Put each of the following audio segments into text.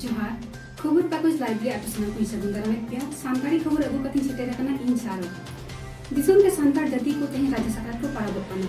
ᱡᱚᱦᱟᱨ ᱠᱷᱚᱵᱚᱨ ᱠᱟᱜᱚᱡᱽ ᱞᱟᱭᱤᱵ ᱨᱮ ᱟᱯᱮ ᱥᱟᱱᱟᱢ ᱠᱚᱧ ᱥᱟᱹᱜᱩᱱ ᱫᱟᱨᱟᱢᱮᱫ ᱯᱮᱭᱟ ᱥᱟᱱᱛᱟᱲᱤ ᱠᱷᱚᱵᱚᱨ ᱟᱹᱜᱩ ᱠᱟᱛᱮᱧ ᱥᱮᱴᱮᱨ ᱟᱠᱟᱱᱟ ᱤᱧ ᱥᱟᱨᱚ ᱫᱤᱥᱚᱢ ᱨᱮ ᱥᱟᱱᱛᱟᱲ ᱡᱟᱹᱛᱤ ᱠᱚ ᱛᱮᱦᱮᱧ ᱨᱟᱡᱟ ᱥᱟᱠᱨᱟᱛ ᱠᱚ ᱯᱟᱨᱟᱵᱚᱜ ᱠᱟᱱᱟ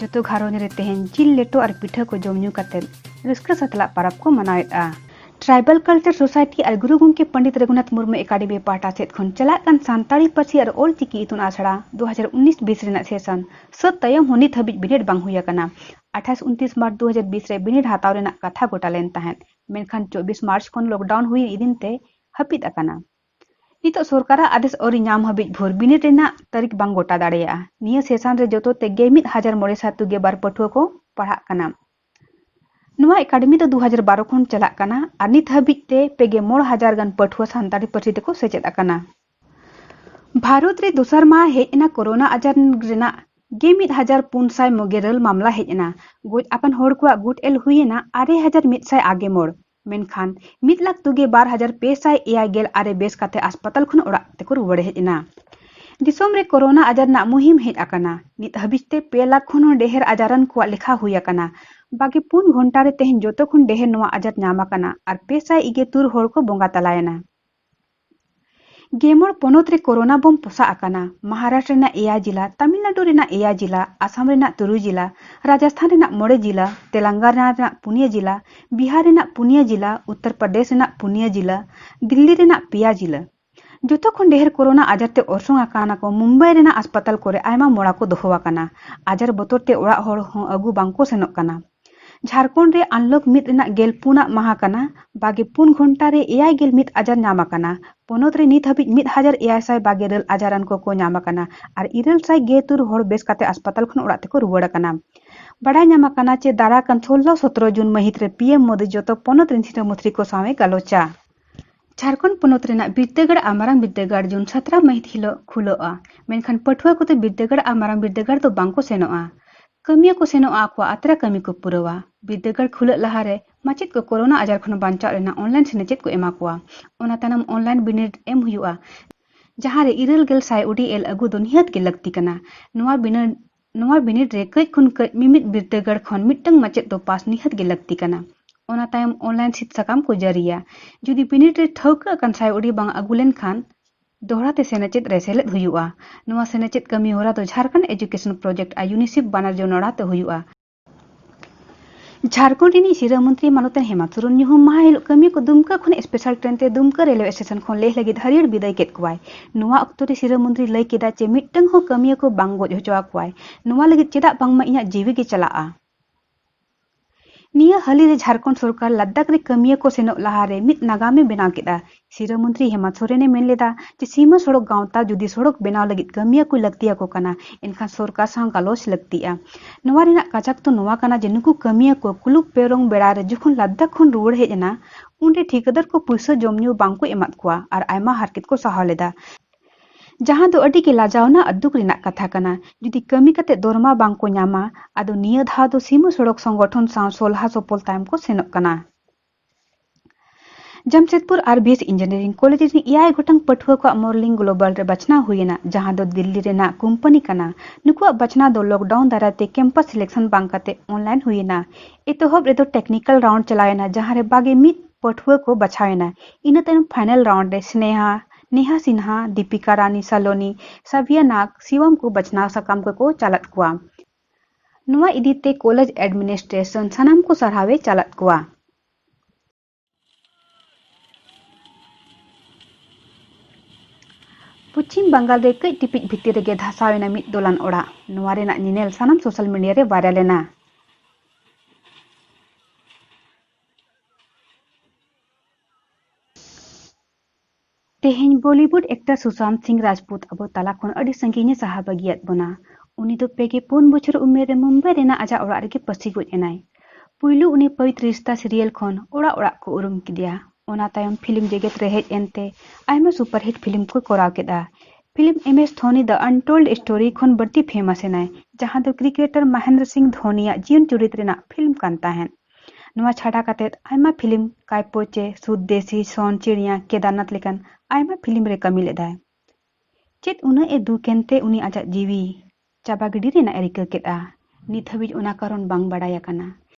ᱡᱚᱛᱚ ᱜᱷᱟᱨᱚᱸᱡᱽ ᱨᱮ ᱛᱮᱦᱮᱧ ᱡᱤᱞ ᱞᱮᱴᱚ ᱟᱨ ᱯᱤᱴᱷᱟᱹ ᱠᱚ ᱡᱚᱢ ᱧᱩ ᱠᱟᱛᱮ ᱨᱟᱹᱥᱠᱟᱹ ᱥᱟᱛᱞᱟᱜ ᱯᱟᱨᱟᱵᱽ ᱠᱚ ᱢᱟᱱᱟᱣᱮᱫᱼᱟ ᱴᱨᱟᱭᱵᱟᱞ ᱠᱟᱞᱪᱟᱨ ᱥᱳᱥᱟᱭᱴᱤ ᱟᱨ ᱜᱩᱨᱩ ᱜᱚᱢᱠᱮ ᱯᱚᱸᱰᱤᱛ ᱨᱚᱜᱷᱩᱱᱟᱛᱷ ᱢᱩᱨᱢᱩ ᱮᱠᱟᱰᱮᱢᱤ ᱯᱟᱦᱴᱟ ᱥᱮᱫ ᱠᱷᱚᱱ ᱪᱟᱞᱟᱜ ᱠᱟᱱ ᱥᱟᱱᱛᱟᱲᱤ ᱯᱟᱹᱨᱥᱤ ᱟᱨ ᱚᱞ ᱪᱤᱠᱤ ᱤᱛᱩᱱ ᱟᱥᱲᱟ 2019-20 ᱨᱮᱱᱟᱜ ᱥᱮᱥᱚᱱ ᱥᱟᱹᱛ ᱛᱟᱭᱚᱢ ᱦᱚᱸ ᱱᱤᱛ ᱦᱟᱹᱵᱤᱡ ᱵᱤᱱᱤᱰ ᱵᱟᱝ ᱦᱩᱭ ᱟᱠᱟᱱᱟ 28-29 ᱢᱟᱨᱪ 2020 ᱨᱮ ᱵᱤᱱᱤᱰ ᱦᱟᱛᱟᱣ ᱨᱮᱱᱟᱜ ᱠᱟᱛᱷᱟ ᱜᱚᱴᱟ ᱞᱮᱱ ᱛᱟᱦᱮᱸᱫ ᱢᱮᱱᱠᱷᱟᱱ 24 ᱢᱟᱨᱪ ᱠᱷᱚᱱ ᱞᱚᱠᱰᱟᱣᱩᱱ ᱦᱩᱭ ᱤᱫᱤᱱ ᱛᱮ ᱦᱟᱹᱯᱤᱫ ᱟᱠᱟᱱᱟ ᱱᱤᱛᱚᱜ ᱥᱚᱨᱠᱟᱨᱟᱜ ᱟᱫᱮᱥ ᱟᱹᱣᱨᱤ ᱧᱟᱢ ᱦᱟᱹᱵᱤᱡ ᱵᱷᱳᱨ ᱵᱤᱱᱤᱰ ᱨᱮᱱᱟᱜ ᱛᱟᱹᱨᱤᱠᱷ ᱵᱟᱝ ᱜᱚᱴᱟ ᱫᱟᱲᱮᱭᱟᱜᱼᱟ᱾ ᱱᱤᱭᱟᱹ ᱥᱮᱥᱟᱱ ᱨᱮ ᱡᱚᱛᱚ ᱛᱮ ᱜᱮ ᱢᱤᱫ ᱦᱟᱡᱟᱨ ᱢᱚᱬᱮ ᱥᱟᱭ ᱛᱩᱜᱮ ᱵᱟᱨ ᱯᱟᱹᱴᱷᱩᱣᱟᱹ ᱠᱚ ᱯᱟᱲᱦᱟᱜ ᱠᱟᱱᱟ᱾ ᱱᱚᱣᱟ ᱮᱠᱟᱰᱮᱢᱤ ᱫᱚ ᱫᱩ ᱦᱟᱡᱟᱨ ᱵᱟᱨᱚ ᱠᱷᱚᱱ ᱪᱟᱞᱟᱜ ᱠᱟᱱᱟ ᱟᱨ ᱱᱤᱛ ᱦᱟᱹᱵᱤᱡ ᱛᱮ ᱯᱮ ᱜᱮ ᱢᱚᱬ ᱦᱟᱡᱟᱨ ᱜᱟᱱ ᱯᱟᱹᱴᱷᱩᱣᱟᱹ ᱥᱟᱱᱛᱟᱲᱤ ᱯᱟᱹᱨᱥᱤ ᱛᱮ ᱠᱚ ᱥᱮᱪᱮᱫ ᱟᱠᱟᱱᱟ᱾ ᱵᱷᱟᱨᱚᱛ ᱨᱮ ᱫᱚᱥᱟᱨ ᱢᱟᱦᱟᱸ ᱦᱮᱡ ᱮᱱᱟ ᱠᱚᱨᱳᱱᱟ ᱟᱡᱟᱨ ᱨᱮᱱᱟᱜ ᱜᱮ ᱢᱤᱫ ᱦᱟᱡᱟᱨ ᱯᱩᱱ ᱥᱟᱭ ᱢᱚᱜᱮᱨᱟᱹᱞ ᱢᱟᱢᱞᱟ ᱦᱮᱡ ᱮᱱᱟ᱾ ᱜᱚᱡ ᱟᱠᱟᱱ ᱦᱚᱲ ᱠᱚᱣᱟᱜ ᱜᱩᱴ ᱮᱞ ᱦᱩᱭ ᱮᱱᱟ ᱟᱨᱮ ᱦᱟᱡᱟᱨ ᱢᱤᱫ ᱥᱟᱭ ᱟᱜᱮ ᱢᱚᱬ᱾ ᱢᱮᱱᱠᱷᱟᱱ ᱢᱤᱫ ᱞᱟᱠᱷ ᱛᱩᱜᱮ ᱵᱟᱨ ᱦᱟᱡᱟᱨ ᱯᱮ ᱥᱟᱭ ᱮᱭᱟᱭ ᱜᱮᱞ ᱟᱨᱮ ᱵᱮᱥ ᱠᱟᱛᱮ ᱦᱟᱥᱯᱟᱛᱟᱞ ᱠᱷᱚᱱ ᱚᱲᱟᱜ ᱛᱮᱠᱚ ᱨᱩᱣᱟᱹᱲ ᱦᱮᱡ ᱮᱱᱟ ᱫᱤᱥᱚᱢ ᱨᱮ ᱠᱳᱨᱳᱱᱟ ᱟᱡᱟᱨ ᱨᱮᱱᱟᱜ ᱢᱩᱦᱤᱢ ᱦᱮᱡ ᱟᱠᱟᱱᱟ ᱱᱤᱛ ᱦᱟᱹᱵᱤᱡ ᱛᱮ ᱯᱮ ᱞᱟᱠᱷ ᱠᱷᱚᱱ ᱦᱚᱸ ᱰᱮᱦᱮᱨ ᱟᱡᱟᱨᱟᱱ ᱠᱚᱣᱟᱜ ᱞᱮᱠᱷᱟ ᱦᱩᱭ ᱟᱠᱟᱱᱟ ᱵᱟᱜᱮ ᱯᱩᱱ ᱜᱷᱚᱱᱴᱟ ᱨᱮ ᱛᱮᱦᱮᱧ ᱡᱚᱛᱚ ᱠᱷᱚᱱ ᱰᱮᱦᱮᱨ ᱱᱚᱣᱟ ᱟᱡᱟᱨ ᱧᱟᱢ ᱟᱠᱟᱱᱟ ᱟᱨ ᱯᱮ ᱥᱟᱭ ᱤᱜᱮ ᱛᱩᱨ ᱦᱚᱲ ᱠᱚ ᱵᱚᱸᱜᱟ ᱛᱟᱞᱟᱭᱮᱱᱟ ᱜᱮᱢᱚᱬ ᱯᱚᱱᱚᱛ ᱨᱮ ᱠᱚᱨᱳᱱᱟ ᱵᱚᱢ ᱯᱚᱥᱟᱜ ᱟᱠᱟᱱᱟ ᱢᱚᱦᱟᱨᱟᱥᱴᱨᱚ ᱨᱮᱱᱟᱜ ᱮᱭᱟᱭ ᱡᱤᱞᱟ, ᱛᱟᱢᱤᱞᱱᱟᱰᱩ ᱨᱮᱱᱟᱜ ᱮᱭᱟᱭ ᱡᱤᱞᱟ, ᱟᱥᱟᱢ ᱨᱮᱱᱟᱜ ᱛᱩᱨᱩᱭ ᱡᱤᱞᱟ, ᱨᱟᱡᱟᱥᱛᱷᱟᱱ ᱨᱮᱱᱟᱜ ᱢᱚᱬᱮ ᱡᱤᱞᱟ, ᱛᱮᱞᱟᱝᱜᱟᱱᱟ ᱨᱮᱱᱟᱜ ᱯᱩᱱᱭᱟᱹ ᱡᱤᱞᱟ, ᱵᱤᱦᱟᱨ ᱨᱮᱱᱟᱜ ᱯᱩᱱᱭᱟᱹ ᱡᱤᱞᱟ, ᱩᱛᱛᱚᱨ ᱯᱨᱚᱫᱮᱥ ᱨᱮᱱᱟᱜ ᱯᱩᱱᱭᱟᱹ ᱡᱤᱞᱟ, ᱫᱤᱞᱞᱤ ᱨᱮᱱᱟᱜ ᱯᱮᱭᱟ ᱡᱤᱞᱟ᱾ ᱡᱚᱛᱚ ᱠᱷᱚᱱ ᱰᱮᱦᱮᱨ ᱠᱚᱨᱳᱱᱟ ᱟᱡᱟᱨ ᱛᱮ ᱚᱨᱥᱚᱝ ᱟᱠᱟᱱᱟ ᱠᱚ ᱢᱩᱢᱵᱟᱭ ᱨᱮᱱᱟᱜ ᱟᱥᱯᱟᱛᱟᱞ ᱠᱚᱨᱮ ᱟᱭᱢᱟ ᱢᱚᱲᱟ ᱠᱚ ᱫᱚᱦᱚ ᱟᱠᱟᱱᱟ᱾ ᱟᱡᱟᱨ ᱵᱚᱛᱚᱨ ᱛᱮ ᱚᱲᱟᱜ ᱦᱚᱲ ᱦᱚᱸ ᱟᱹᱜᱩ ᱵᱟᱝ ᱠᱚ ᱥᱮᱱᱚᱜ ᱠᱟᱱᱟ᱾ ᱡᱷᱟᱨᱠᱷᱚᱸᱰ ᱨᱮ ᱟᱱᱞᱚᱠ ᱢᱤᱫ ᱨᱮᱱᱟᱜ ᱜᱮᱞ ᱯᱩᱱ ᱟᱜ ᱢᱟᱦᱟᱸ ᱠᱟᱱᱟ᱾ ᱵᱟᱜᱮ ᱯᱩᱱ ᱜᱷᱚᱱᱴᱟ ᱨᱮ ᱮᱭᱟᱭ ᱜᱮᱞ ᱢᱤᱫ ᱟᱡᱟᱨ ᱧᱟᱢ ᱟᱠᱟᱱᱟ᱾ ᱯᱚᱱᱚᱛ ᱨᱮ ᱱᱤᱛ ᱦᱟᱹᱵᱤᱡ ᱢᱤᱫ ᱦᱟᱡᱟᱨ ᱮᱭᱟᱭ ᱥᱟᱭ ᱵᱟᱜᱮ ᱤᱨᱟᱹᱞ ᱟᱡᱟᱨᱟᱱ ᱠᱚ ᱠᱚ ᱧᱟᱢ ᱟᱠᱟᱱᱟ ᱟᱨ ᱤᱨᱟᱹᱞ ᱥᱟᱭ ᱜᱮ ᱛᱩᱨ ᱦᱚᱲ ᱵᱮᱥ ᱠᱟᱛᱮ ᱦᱟᱥᱯᱟᱛᱟᱞ ᱠᱷᱚᱱ ᱚᱲᱟᱜ ᱛᱮᱠᱚ ᱨᱩᱣᱟᱹᱲ ᱟᱠᱟᱱᱟ᱾ ᱵᱟᱰᱟᱭ ᱧᱟᱢ ᱟᱠᱟᱱᱟ ᱪᱮ ᱫᱟᱨᱟ ᱠᱟᱱ ᱥᱳᱞᱞᱳ ᱥᱚᱛᱨᱚ ᱡᱩᱱ ᱢᱟᱹᱦᱤᱛ ᱨᱮ ᱯᱤᱮᱢ ᱢᱳᱫᱤ ᱡᱚᱛᱚ ᱯᱚᱱᱚᱛ ᱨᱤᱱ ᱥᱤᱨᱟᱹ ᱢᱚᱛᱨᱤ ᱠᱚ ᱥᱟᱶ ᱮ ᱜᱟᱞᱚᱪᱟ᱾ ᱡᱷᱟᱲᱠᱷᱚᱸᱰ ᱯᱚᱱᱚᱛ ᱨᱮᱱᱟᱜ ᱵᱤᱨᱫᱟᱹᱜᱟᱲ ᱟᱨ ᱢᱟᱨᱟᱝ ᱵᱤᱨᱫᱟᱹᱜᱟᱲ ᱡᱩᱱ ᱥᱟᱛᱨᱟ ᱢᱟᱹᱦᱤᱛ ᱦᱤᱞᱳᱜ ᱠᱷᱩᱞᱟᱹᱜᱼᱟ ᱢᱮᱱᱠᱷᱟᱱ ᱯᱟᱹᱴᱷᱩᱣᱟᱹ ᱠᱚᱫᱚ ᱵᱤᱨᱫᱟᱹᱜᱟᱲ ᱟᱨ ᱢᱟᱨᱟᱝ ᱵᱤᱨᱫᱟᱹᱜᱟᱲ ᱫᱚ ᱵᱟᱝᱠᱚ ᱥᱮᱱᱚᱜᱼᱟ ᱠᱟᱹᱢᱤᱭᱟᱹ ᱠᱚ ᱥᱮᱱᱚᱜᱼᱟ ᱟᱠᱚᱣᱟᱜ ᱟᱛᱨᱟ ᱠᱟᱹᱢᱤ ᱠᱚ ᱯᱩᱨᱟᱹᱣᱟ ᱵᱤᱨᱫᱟᱹᱜᱟᱲ ᱠᱷᱩᱞᱟᱹᱜ ᱞᱟᱦᱟᱨᱮ ᱢᱟᱪᱮᱫ ᱠᱚ ᱠᱳᱨᱳᱱᱟ ᱟᱡᱟᱨ ᱠᱷᱚᱱ ᱵᱟᱧᱪᱟᱣ ᱨᱮᱱᱟᱜ ᱚᱱᱞᱟᱭᱤᱱ ᱥᱮᱱᱮᱪᱮᱫ ᱠᱚ ᱮᱢᱟ ᱠᱚᱣᱟ ᱚᱱᱟ ᱛᱟᱭᱱᱚᱢ ᱚᱱᱞᱟᱭᱤᱱ ᱵᱤᱱᱤᱰ ᱮᱢ ᱦᱩᱭᱩᱜᱼᱟ ᱡᱟᱦᱟᱸᱨᱮ ᱤᱨᱟᱹᱞ ᱜᱮᱞ ᱥᱟᱭ ᱩᱰᱤ ᱮᱞ ᱟᱹᱜᱩ ᱫᱚ ᱱᱤᱦᱟᱹᱛ ᱜᱮ ᱞᱟᱹᱠᱛᱤ ᱠᱟᱱᱟ ᱱᱚᱣᱟ ᱵᱤᱱᱤᱰ ᱱᱚᱣᱟ ᱵᱤᱱᱤᱰ ᱨᱮ ᱠᱟᱹᱡ ᱠᱷᱚᱱ ᱠᱟᱹᱡ ᱢᱤᱢᱤᱫ ᱵᱤᱨᱫᱟᱹᱜᱟᱲ ᱠᱷᱚᱱ ᱢᱤᱫᱴᱟᱹᱝ ᱢᱟᱪᱮᱛ ᱫᱚ ᱯᱟᱥ ᱱᱤᱦᱟᱹᱛ ᱜᱮ ᱞᱟᱹᱠᱛᱤ ᱠᱟᱱᱟ᱾ ᱚᱱᱟ ᱛᱟᱭᱚᱢ ᱚᱱᱞᱟᱭᱤᱱ ᱥᱤᱫ ᱥᱟᱠᱟᱢ ᱠᱚ ᱡᱟᱹᱨᱤᱭᱟ᱾ ᱡᱩᱫᱤ ᱵᱤᱱᱤᱰ ᱨᱮ ᱴᱷᱟᱹᱣᱠᱟᱹ ᱟᱠᱟᱱ ᱥᱟᱭ ᱩᱰᱤ ᱵᱟᱝ ᱟᱹᱜᱩ ᱞᱮᱱ ᱠᱷᱟᱱ ᱫᱚᱦᱲᱟ ᱛᱮ ᱥᱮᱱᱮᱪᱮᱫ ᱨᱮ ᱥᱮᱞᱮᱫ ᱦᱩᱭᱩᱜᱼᱟ᱾ ᱱᱚᱣᱟ ᱥᱮᱱᱮᱪᱮᱫ ᱠᱟᱹᱢᱤ ᱦᱚᱨᱟ ᱫᱚ ᱡᱷᱟᱨᱠᱷᱚᱸᱰ ᱮᱡᱩᱠᱮᱥᱚᱱ ᱯᱨᱚᱡᱮᱠᱴ ᱟᱨ ᱭᱩᱱᱤᱥᱮᱯᱷ ᱵᱟᱱᱟᱨ ᱡᱚᱱᱚᱲᱟᱣ ᱛᱮ ᱦᱩᱭᱩᱜᱼᱟ᱾ ᱡᱷᱟᱲᱠᱷᱚᱸᱰ ᱨᱤᱱᱤᱡ ᱥᱤᱨᱟᱹ ᱢᱚᱱᱛᱨᱤ ᱢᱟᱱᱚᱛᱟᱱ ᱦᱮᱢᱟᱱᱛ ᱥᱚᱨᱮᱱ ᱧᱩᱦᱩᱢ ᱢᱟᱦᱟ ᱦᱤᱞᱳᱜ ᱠᱟᱹᱢᱤ ᱠᱚ ᱫᱩᱢᱠᱟᱹ ᱠᱷᱚᱱ ᱥᱯᱮᱥᱟᱞ ᱴᱨᱮᱱ ᱛᱮ ᱫᱩᱢᱠᱟᱹ ᱨᱮᱞᱣᱮ ᱥᱴᱮᱥᱚᱱ ᱠᱷᱚᱱ ᱞᱮᱦ ᱞᱟᱹᱜᱤᱫ ᱦᱟᱹᱨᱭᱟᱹᱲ ᱵᱤᱫᱟᱹᱭ ᱠᱮᱫ ᱠᱚᱣᱟᱭ ᱱᱚᱣᱟ ᱚᱠᱛᱚ ᱨᱮ ᱥᱤᱨᱟᱹ ᱢᱚᱱᱛᱨᱤ ᱞᱟᱹᱭ ᱠᱮᱫᱟ ᱪᱮ ᱢᱤᱫᱴᱟᱝ ᱦᱚᱸ ᱠᱟᱹᱢᱤᱭᱟᱹ ᱠᱚ ᱵᱟᱝ ᱜᱚᱡ ᱦᱚᱪᱚ ᱟᱠᱚᱣᱟᱭ ᱱᱚᱣᱟ ᱞᱟᱹᱜᱤᱫ ᱪᱮᱫᱟᱜ ᱵᱟᱝᱢᱟ ᱤᱧᱟᱹᱜ ᱡᱤᱣᱤ ᱜᱮ ᱪᱟᱞᱟᱜᱼᱟ ᱱᱤᱭᱟᱹ ᱦᱟᱹᱞᱤ ᱨᱮ ᱡᱷᱟᱲᱠᱷᱚᱸᱰ ᱥᱚᱨᱠᱟᱨ ᱞᱟᱫᱟᱠᱷ ᱨᱮ ᱠᱟᱹᱢᱤᱭᱟᱹ ᱠᱚ ᱥᱮᱱᱚᱜ ᱞᱟᱦᱟᱨᱮ ᱢᱤᱫ ᱱᱟᱜᱟᱢᱮ ᱵᱮᱱᱟᱣ ᱠᱮᱫᱟ ᱥᱤᱨᱟᱹ ᱢᱚᱱᱛᱨᱤ ᱦᱮᱢᱟᱱᱛ ᱥᱚᱨᱮᱱᱮ ᱢᱮᱱ ᱞᱮᱫᱟ ᱡᱮ ᱥᱤᱢᱟᱹ ᱥᱚᱲᱚᱠ ᱜᱟᱶᱛᱟ ᱡᱩᱫᱤ ᱥᱚᱲᱚᱠ ᱵᱮᱱᱟᱣ ᱞᱟᱹᱜᱤᱫ ᱠᱟᱹᱢᱤᱭᱟᱹ ᱠᱚ ᱞᱟᱹᱠᱛᱤ ᱟᱠᱚ ᱠᱟᱱᱟ ᱮᱱᱠᱷᱟᱱ ᱥᱚᱨᱠᱟᱨ ᱥᱟᱶ ᱜᱟᱞᱚᱪ ᱞᱟᱹᱠᱛᱤᱜᱼᱟ᱾ ᱱᱚᱣᱟ ᱨᱮᱱᱟᱜ ᱠᱟᱡᱟᱠ ᱫᱚ ᱱᱚᱣᱟ ᱠᱟᱱᱟ ᱡᱮ ᱱᱩᱠᱩ ᱠᱟᱹᱢᱤᱭᱟᱹ ᱠᱚ ᱠᱩᱞᱩᱠ ᱯᱮᱭᱨᱚᱝ ᱵᱮᱲᱟ ᱨᱮ ᱡᱚᱠᱷᱚᱱ ᱞᱟᱫᱽᱫᱟᱠᱷ ᱠᱷᱚᱱ ᱨᱩᱣᱟᱹᱲ ᱦᱮᱡ ᱮᱱᱟ ᱩᱱᱨᱮ ᱴᱷᱤᱠᱟᱹᱫᱟᱨ ᱠᱚ ᱯᱩᱭᱥᱟᱹ ᱡᱚᱢ ᱧᱩ ᱵᱟᱝ ᱠᱚ ᱮᱢᱟᱫ ᱠᱚᱣᱟ ᱟᱨ ᱟᱭᱢᱟ ᱦᱟᱨᱠᱮᱛ ᱠᱚ ᱥᱟᱦᱟᱣ ᱞᱮᱫᱟ ᱡᱟᱦᱟᱸ ᱫᱚ ᱟᱹᱰᱤ ᱜᱮ ᱞᱟᱡᱟᱣᱱᱟ ᱟᱨ ᱫᱩᱠ ᱨᱮᱱᱟᱜ ᱠᱟᱛᱷᱟ ᱠᱟᱱᱟ ᱡᱩᱫᱤ ᱠᱟᱹᱢᱤ ᱠᱟᱛᱮ ᱫᱚᱨᱢᱟ ᱵᱟᱝ ᱠᱚ ᱧᱟᱢᱟ ᱟᱫᱚ ᱱᱤᱭᱟᱹ ᱫᱷᱟᱣ ᱫᱚ ᱥᱤᱢᱟᱹ ᱥᱚᱲᱚᱠ ᱥᱚᱝᱜᱚᱴᱷᱚᱱ ᱥᱟᱶ ᱥᱚᱞᱦᱟ ᱥᱚᱯᱚᱞ ᱛᱟᱭᱚᱢ ᱠᱚ ᱥᱮᱱᱚᱜ ᱠᱟᱱᱟ᱾ ᱡᱟᱢᱥᱮᱫᱽᱯᱩᱨ ᱟᱨ ᱵᱤ ᱮᱥ ᱤᱧᱡᱤᱱᱤᱭᱟᱨᱤᱝ ᱠᱚᱞᱮᱡᱽ ᱨᱤᱱ ᱮᱭᱟᱭ ᱜᱚᱴᱟᱝ ᱯᱟᱹᱴᱷᱩᱣᱟᱹ ᱠᱚᱣᱟᱜ ᱢᱚᱨᱞᱤᱝ ᱜᱞᱳᱵᱟᱞ ᱨᱮ ᱵᱟᱪᱷᱱᱟᱣ ᱦᱩᱭ ᱮᱱᱟ ᱡᱟᱦᱟᱸ ᱫᱚ ᱫᱤᱞᱞᱤ ᱨᱮᱱᱟᱜ ᱠᱳᱢᱯᱟᱱᱤ ᱠᱟᱱᱟ ᱱᱩᱠᱩᱣᱟᱜ ᱵᱟᱪᱷᱱᱟᱣ ᱫᱚ ᱞᱚᱠᱰᱟᱣᱩᱱ ᱫᱟᱨᱟᱭ ᱛᱮ ᱠᱮᱢᱯᱟᱥ ᱥᱤᱞᱮᱠᱥᱚᱱ ᱵᱟᱝ ᱠᱟᱛᱮ ᱚᱱᱞᱟᱭᱤᱱ ᱦᱩᱭ ᱮᱱᱟ ᱮᱛᱚᱦᱚᱵ ᱨᱮᱫᱚ ᱴᱮᱠᱱᱤᱠᱟᱞ ᱨᱟᱣᱩᱱᱰ ᱪᱟᱞᱟᱣ ᱮᱱᱟ ᱡᱟᱦᱟᱸ ᱨᱮ ᱵᱟᱜᱮ ᱢᱤᱫ ᱯᱟᱹᱴᱷᱩᱣᱟᱹ ᱠᱚ ᱵᱟᱪᱷᱟᱣ ᱮᱱᱟ ᱤᱱᱟᱹ ᱛᱟᱭᱚᱢ ᱯᱷᱟᱭᱱᱟᱞ ᱨᱟᱣᱩᱱᱰ ᱨᱮ ᱥᱱᱮᱦᱟ ᱱᱮᱦᱟ ᱥᱤᱱᱦᱟ ᱫᱤᱯᱤᱠᱟ ᱨᱟᱱᱤ ᱥᱟᱞᱚᱱᱤ ᱥᱟᱵᱷᱤᱭᱟ ᱱᱟᱜᱽ ᱥᱤᱣᱟᱢ ᱠᱚ ᱵᱟᱪᱷᱱᱟᱣ ᱥᱟᱠᱟᱢ ᱠᱚᱠᱚ ᱪᱟᱞᱟᱫ ᱠᱚᱣᱟ ᱱᱚᱣᱟ ᱤᱫᱤ ᱛᱮ ᱠᱚᱞᱮᱡᱽ ᱮᱰᱢᱤᱱᱤᱥᱴᱨᱮᱥᱚᱱ ᱥᱟᱱᱟᱢ ᱠᱚ ᱥᱟᱨᱦᱟᱣ ᱮ ᱪᱟᱞᱟᱫ ᱠᱚᱣᱟ᱾ ᱯᱚᱪᱷᱤᱢ ᱵᱟᱝᱜᱟᱞ ᱨᱮ ᱠᱟᱹᱡ ᱴᱤᱯᱤᱡ ᱵᱷᱤᱛᱤᱨ ᱨᱮᱜᱮ ᱫᱷᱟᱥᱟᱣ ᱮᱱᱟ ᱢᱤᱫ ᱫᱚᱞᱟᱱ ᱚᱲᱟᱜ᱾ ᱱᱚᱣᱟ ᱨᱮᱱᱟᱜ ᱧᱮᱧᱮᱞ ᱥᱟᱱᱟᱢ ᱥᱳᱥᱟᱞ ᱢᱤᱰᱤᱭᱟ ᱨᱮ ᱵᱷᱟᱭᱨᱟᱞ ᱮᱱᱟ᱾ ᱛᱮᱦᱮᱧ ᱵᱚᱞᱤᱣᱩᱰ ᱮᱠᱴᱟᱨ ᱥᱩᱥᱟᱱᱛ ᱥᱤᱝ ᱨᱟᱡᱽᱯᱩᱛ ᱟᱵᱚ ᱛᱟᱞᱟ ᱠᱷᱚᱱ ᱟᱹᱰᱤ ᱥᱟᱺᱜᱤᱧ ᱮ ᱥᱟᱦᱟ ᱵᱟᱹᱜᱤᱭᱟᱫ ᱵᱚᱱᱟ᱾ ᱩᱱᱤ ᱫᱚ ᱯᱮ ᱜᱮ ᱯᱩᱱ ᱵᱚᱪᱷᱚᱨ ᱩᱢᱮᱨ ᱨᱮ ᱢᱩᱢᱵᱟᱭ ᱨᱮᱱᱟᱜ ᱟᱡᱟᱜ ᱚᱲᱟᱜ ᱨᱮᱜᱮ ᱯᱟᱹᱥᱤ ᱜᱚᱡ ᱮᱱᱟᱭ᱾ ᱯᱩᱭᱞᱩ ᱩᱱᱤ ᱯᱟᱣᱤᱛ ᱨᱤᱥᱛᱟ ᱥᱤᱨᱤᱭᱟᱞ ᱠᱷᱚᱱ ᱚᱲᱟᱜ ᱚᱲᱟᱜ ᱠᱚ ᱩᱨᱩᱢ ᱠᱮᱫᱮᱭᱟ᱾ ᱚᱱᱟ ᱛᱟᱭᱚᱢ ᱯᱷᱤᱞᱢ ᱡᱮᱜᱮᱛ ᱨᱮ ᱦᱮᱡ ᱮᱱ ᱛᱮ ᱟᱭᱢᱟ ᱥᱩᱯᱟᱨᱦᱤᱴ ᱯᱷᱤᱞᱢ ᱠᱚᱭ ᱠᱚᱨᱟᱣ ᱠᱮᱫᱼᱟ᱾ Film M S Dhoni the untold story ᱠᱷᱚᱱ ᱵᱟᱹᱲᱛᱤ ᱯᱷᱮᱢᱟᱥ ᱮᱱᱟᱭ, ᱡᱟᱦᱟᱸ ᱫᱚ ᱠᱨᱤᱠᱮᱴᱟᱨ ᱢᱟᱦᱮᱱᱫᱨᱚ ᱥᱤᱝ ᱫᱷᱚᱱᱤ ᱭᱟᱜ ᱡᱤᱭᱚᱱ ᱪᱩᱨᱤᱛ ᱨᱮᱱᱟᱜ ᱯᱷᱤᱞᱢ ᱠᱟᱱ ᱛᱟᱦᱮᱸᱫ᱾ ᱱᱚᱣᱟ ᱪᱷᱟᱰᱟ ᱠᱟᱛᱮ ᱟᱭᱢᱟ ᱯᱷᱤᱞᱢ ᱠᱟᱭᱯᱳᱪᱮ ᱥᱩᱫᱽᱫᱮᱥᱤ ᱥᱚᱱ ᱪᱤᱲᱤᱭᱟ ᱠᱮᱫᱟᱨᱱᱟᱛᱷ ᱞᱮᱠᱟᱱ ᱟᱭᱢᱟ ᱯᱷᱤᱞᱢ ᱨᱮ ᱠᱟᱹᱢᱤ ᱞᱮᱫᱟᱭ᱾ ᱪᱮᱫ ᱩᱱᱟᱹᱜ ᱮ ᱫᱩᱠ ᱮᱱᱛᱮ ᱩᱱᱤ ᱟᱡᱟᱜ ᱡᱤᱣᱤ ᱪᱟᱵᱟ ᱜᱤᱰᱤ ᱨᱮᱱᱟᱜ ᱮ ᱨᱤᱠᱟᱹ ᱠᱮᱫᱼᱟ, ᱱᱤᱛ ᱦᱟᱹᱵᱤᱡ ᱚᱱᱟ ᱠᱟᱨᱚᱱ ᱵᱟᱝ ᱵᱟᱰᱟᱭ ᱟᱠᱟᱱᱟ᱾